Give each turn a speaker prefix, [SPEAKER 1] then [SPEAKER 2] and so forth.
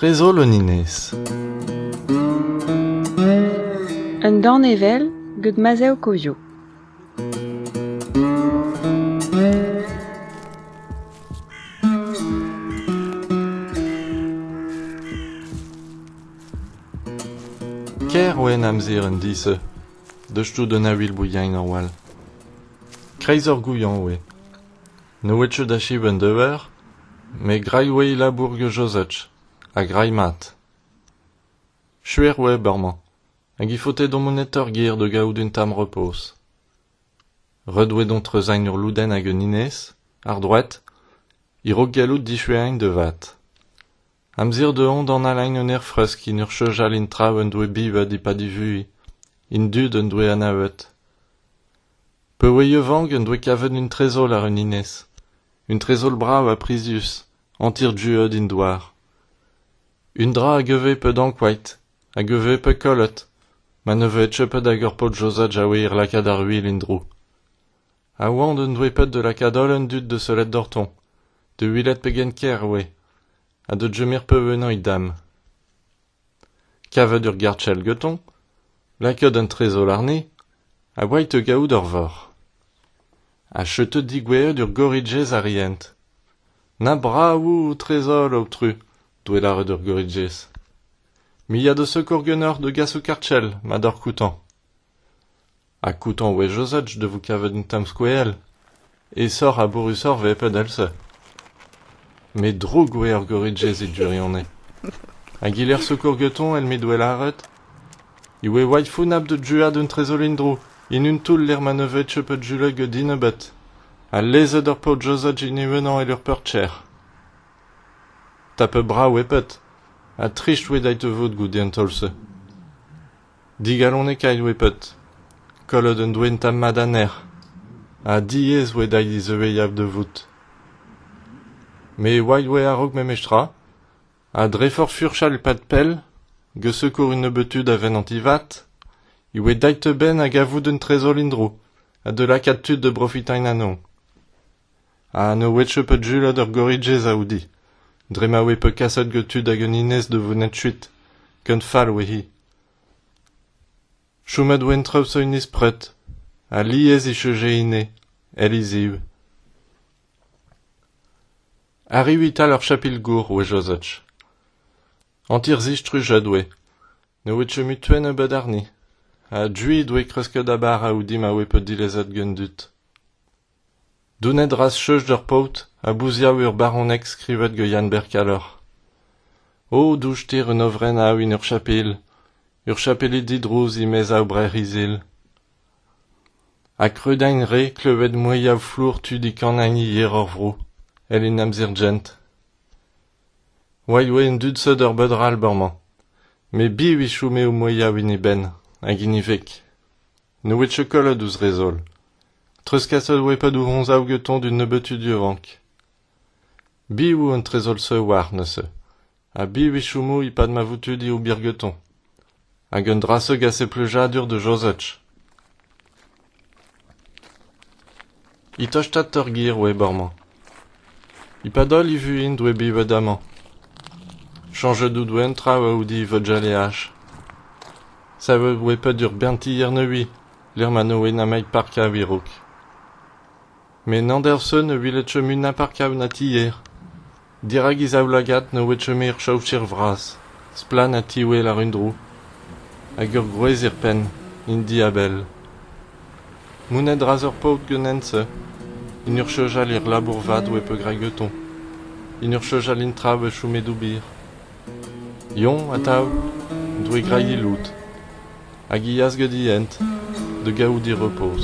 [SPEAKER 1] Trezol un enez. Un danevell get Mazev Kozio. Ker oa en amzer en dizh, deus tout un aviel bouiain ar wall. Kreiz ur gouiañv eo. Ne ouiet chom da chom en dever, met graet e oa labour gant Josej, ha graet mat. Chuer web amañ, hag he faote d'an monitor ger da gaout un tamm repoz. Ret eo dont treuzañ ur lodenn hag un enez, àr droed, a-raok gallout dichuañ da vat. Amzer dezhañ dont alain un aerfresk en ur cheñchal int traoù en doe bivet e-pad e vuhez. Int dud en doe anavet. Peurweiañ-vank en doe kavet un trezol àr un enez. Un trezol brav ha prizius, hanter-duet en douar. Un dra a geve pet ankouaet, a geve pet kollet, ma ne vez cheppet hag ur paotr josat jaouer lakaat ar wil en-dro. a oan un droipad da lakaat holl an dud da sellet doc'htoñ da welet pegen ker e oe ha da chomer pevennoñ dam kavet ur gartell gantoñ lakaat an trezol àrne a oait da gaout ur vor ha chetet digouezet ur gorijez arient na bravoù trezol aotru doe lâret ur gorijez me ya da sekour ganeoc'h da gas ho kartell ma doc'h koutañ Ha koutant wech-eus-holl da vo kavet un tamm skoell. Aesoc'h ha bourrusoc'h eo padal-se. Met dro-gwer Goridjez e gwirionez. Hag e-lec'h sekour gantoñ èl m'he doa lâret e oa waifounnab da druañ d'un tresoll en-dro, en un toull lec'h ma ne vez teu pet julek din ebet, ha lezet ur paotr Josaj en e-unan èl ur peurt trec'h. Tapet brav eo pet, ha trist oa dezhi te vout goude an taol-se. Digalonekaet oe bet, kollet un doe un tamm mat anezhañ, ha diaes oe dezhi dizeueiñ da vout. Me oaid oe a-raok memestra, ha dre forzh furchal pad pell, gesekour un nebeud tud a venanti vat, e oe dait a-benn a gavout un trezol en-dro, ha da lakaat tud da brofitañ anezhañ. ha ne ouetfe pet julad ur gorriджez a out-hi dre ma oe peuet kaset gant tud hag un enez da vont kuit ken fall oe-hi chomet oa en traoù zo hennezh pred alies e cheuje ine èl he ziv arriv e-tal ur chapel-gour oe jozach hanter zistrujet oe ne ouetfe mui tuenn ebet àrni ha duit oe kresket a-bara out-hi ma oe peuet dilezet gant dud Donet 'ras cheuz d'ur paotr a bouziav ur baroneg skrivet gant Yann-Bêr Kalleur. O douchter un ovrenn a aoun ur chapel, ur chapeled didrouz e-maez-ao brec'h izel. Ha kreudain re klevet moeiav flour tud e Kanagni yer hor vro, èl en amzer-jent. Oa ioa an dud seut ur beud-rall ba'r-mañ, met biv e chome o moeiav en e benn, hag en e veg. Ne oe chokolad ouz re zoll. Treuzkaset oe padoù roñsav gantañ d'un nebeutud a vank. Biv an trezoll-se oar neuze ? Ha biv e chomo e-pad ma vo tu dezho ober gantañ ? Hag un dra-se gase pleujadur da Jozef. E-tostaat ur gêr oeb amañ. E-pad holl e vuhez doe bet bet amañ. Chañjet out eun traoù a-oudi vugaleaj. Savet oe pet ur bern tier nevez, lec'h ma ne oe nemet park a-werouk. Met n'anderson ne welet chomin na park na tier. Dirak he zaoulagad ne oe chomet ur chaoser vras, splann ha tiwel àr-un-dro, hag ur gwrez er penn, int diabell. Mont a-dra-z ur paotr ganen-se, en ur chojal er labour vat oe peogregaton, en ur chojal en traoù a chome d'ober. Yoñ atav, doe grailh he lod, hag he yas gant he hent da gavout he repoz.